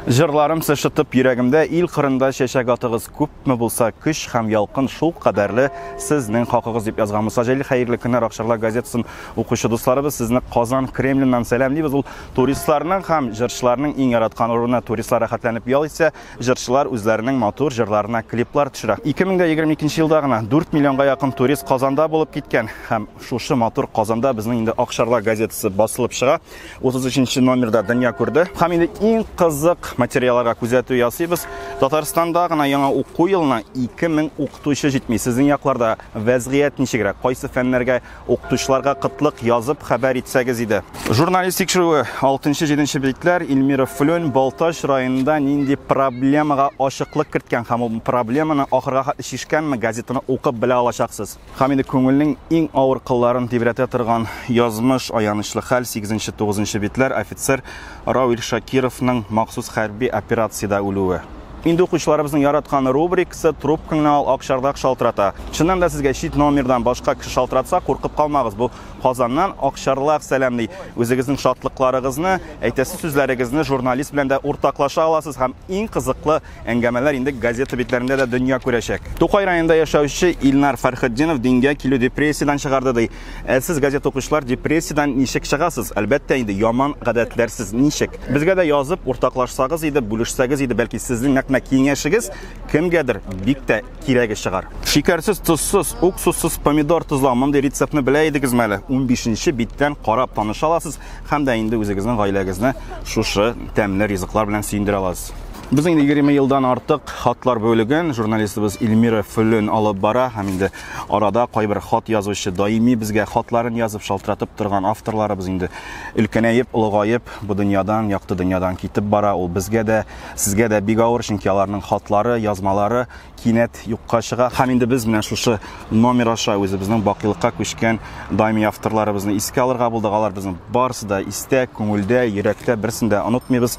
Җырларым сышытып йөрәгемдә ил кырында чәчәк атыгыз күпме булса көч һәм ялкын шул кадәрле сезнең хакыгыз дип язган Муса Җәлил хәерле көннәр Акчарлак газетасын укучы дусларыбыз сезне Казан Кремленнан сәламлибез ул туристларның һәм җырчыларның иң яраткан урыны туристлар рәхәтләнеп ял итсә җырчылар үзләренең матур җырларына клиплар төшерә 2022 елда гына 4 миллионга якын турист Казанда булып киткән һәм шушы матур Казанда безнең инде Акчарлак газетасы басылып чыга 33 номерда дөнья күрде. Һәм инде иң кызык материалларга күзәтү ясыйбыз. Татарстанда гына яңа уку елына 2000 укытучы җитми. Сезнең якларда вәзгыять ничегрәк? Кайсы фәннәргә укытучыларга кытлык язып хәбәр итсәгез иде. Журналист тикшерүе 6-7 битләр Ильмира Флюн Балтач районында нинди проблемага ачыклык керткән һәм ул проблеманы ахырга хәтле чишкәнме газетаны укып белә алачаксыз. Һәм инде күңелнең иң авыр кылларын тибрәтә торган язмыш, аянычлы хәл, сигезенче, тугызынчы битләр, офицер Рауил Шакировның махсус хәрби операциядә үлүе. Инде укучыларыбызның яраткан рубрикасы Трубкаңны ал, ак чардак шалтырата. Чыннан да сезгә чит номердан башка кеше шалтыратса, куркып калмагыз, бу Казаннан ак чарлак сәламли. Үзегезнең шатлыкларыгызны, әйтәсе сүзләрегезне журналист белән дә уртаклаша аласыз һәм иң кызыклы Әңгәмәләр инде газета битләрендә дә дөнья күрәчәк. Тукай районында яшәүче Илнар Фәрхетдинов дингә килү депрессиядән чыгарды ди. Ә сез, газета укучылар, депрессиядән ничек чыгасыз? Әлбәттә инде, яман гадәтләрсез. Ничек? Безгә дә язып, уртаклашсагыз иде, бүлешсәгез иде, бәлки сезнең нәкъ менә киңәшегез кемгәдер бик тә кирәге чыгар. Шикәрсез, тозсыз, уксуссыз помидор тозлау мондый рецептны белә идегез мәле? 15 нче биттән карап таныша аласыз һәм дә инде үзегезнең гаиләгезне шушы тәмле ризыклар белән сөендерә аласыз. Без инде 20 елдан артык хатлар бүлеген журналистыбыз Эльмира Фөлен алып бара һәм инде арада кайбер хат язучы даими безгә хатларын язып шалтыратып торган авторларыбыз инде өлкәнәеп, олыгаеп, бу дөньядан, якты дөньядан китеп бара. Ул безгә дә Сезгә дә бик авыр, чөнки аларның хатлары, язмалары кинәт юкка чыга. Һәм инде без менә шушы номер аша үзебезнең бакыйлыкка күчкән даими авторларыбызны искә алырга булдык. Алар безнең барысы да истә, күңелдә, йөрәктә, берсен дә онытмыйбыз.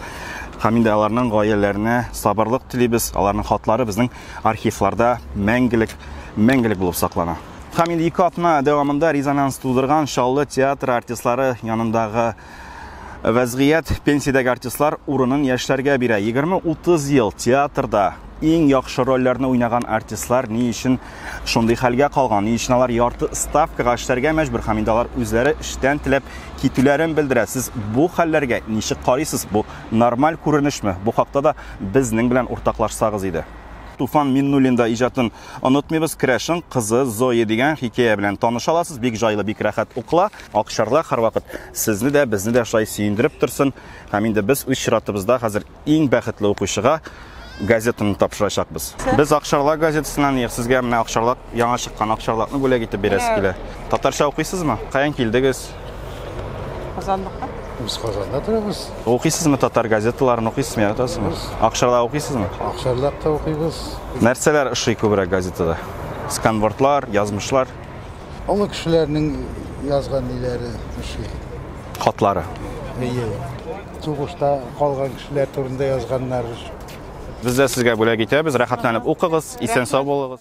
Һәм инде аларның гаиләләренә сабырлык телибез. Аларның хатлары безнең архивларда мәңгелек, мәңгелек булып саклана. Һәм инде ике атна дәвамында резонанс тудырган Чаллы театры артистлары янындагы Вәзгыять пенсиядәге артистлар урынын яшьләргә бирә. 20-30 ел театрда иң яхшы рольләрне уйнаган артистлар ни өчен шундый хәлгә калган? Ни өчен алар ярты ставкага эшләргә мәҗбүр һәм инде алар үзләре эштән теләп китүләрен белдерә? Сез бу хәлләргә ничек карыйсыз? Бу нормаль күренешме? Бу хакта да безнең белән уртаклашсагыз иде. Туфан Миннуллин да иҗатын Онытмыйбыз Крәшен кызы Зоя дигән хикәя белән таныш аласыз. Бик җайлы, бик рәхәт укыла. Акчарлак һәрвакыт сезне дә, безне дә шулай сөендереп торсын. Һәм инде без үз чиратыбызда хәзер иң бәхетле укучыга газетаны тапшырачакбыз. Без Акчарлак газетасыннан ник сезгә менә Акчарлак яңа чыккан Акчарлакны бүләк итеп бирәсе килә. Татарча укыйсызмы? Каян килдегез? Казанлыкка? Без Казанда торабыз. Укыйсызмы татар газеталарын укыйсызмы яратасызмы? Акшарда укыйсызмы? Акшарлакта укыйбыз. Нәрсәләр ошый күбрәк газетада? Сканвордлар, язмышлар, Олы кешеләрнең язган ниләре ошый. хатлары. Әйе. Сугышта калган кешеләр турында язганнар. Без дә сезгә бүләк итәбез. Рәхәтләнеп укыгыз, исән-сау булыгыз.